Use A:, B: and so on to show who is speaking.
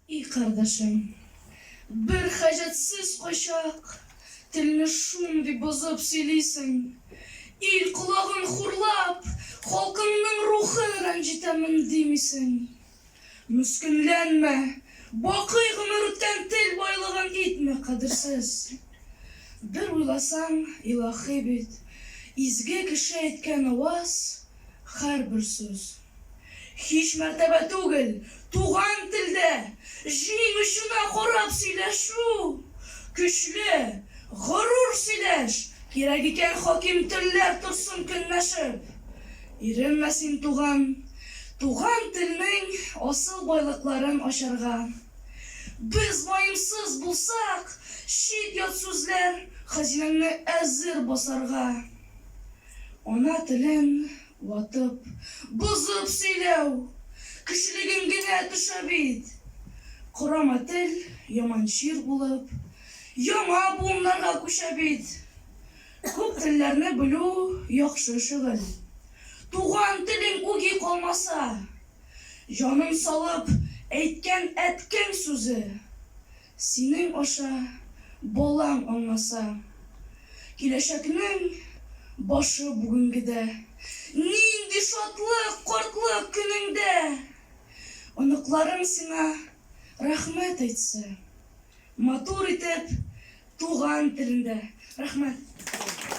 A: И кардәшем, бер хаҗәтсез кайчак, Телне шундый бозып сөйлисең. Ил колагын хурлап, халкыңның рухы рәнҗетәмен димисең. Мескенләнмә, бакый гомер үткән тел байлыгын итмә кадерсез. Бер уйласаң, илаһи бит, изге кеше әйткән аваз, һәрбер сүз. Һич мәртәбә түгел, туган телдә җиң очына карап сөйләшү, көчле, горур сөйләш, кирәк икән хаким телләр торсын көнләшеп. Иренмә син, туган, туган телнең асыл байлыкларын ачарга. Без ваемсыз булсак, чит-ят сүзләр хазинәңне әзер басарга. Ана телен. Ватып, бозып сөйләү, кешелегеңгенә төшә бит. Корама тел, яман чир булып, яңа буыннарга күчә бит. Күп телләрне белү, яхшы шөгыль. Туган телең үги калмаса. Җаным салып әйткән әткәң сүзе. Синең аша балаң аңласа. Киләчәкнең башы бүгенгедә. Нинди шатлык картлык көнеңдә! Оныкларың сиңа рәхмәт әйтсә. Матур итеп туган телендә. Рәхмәт.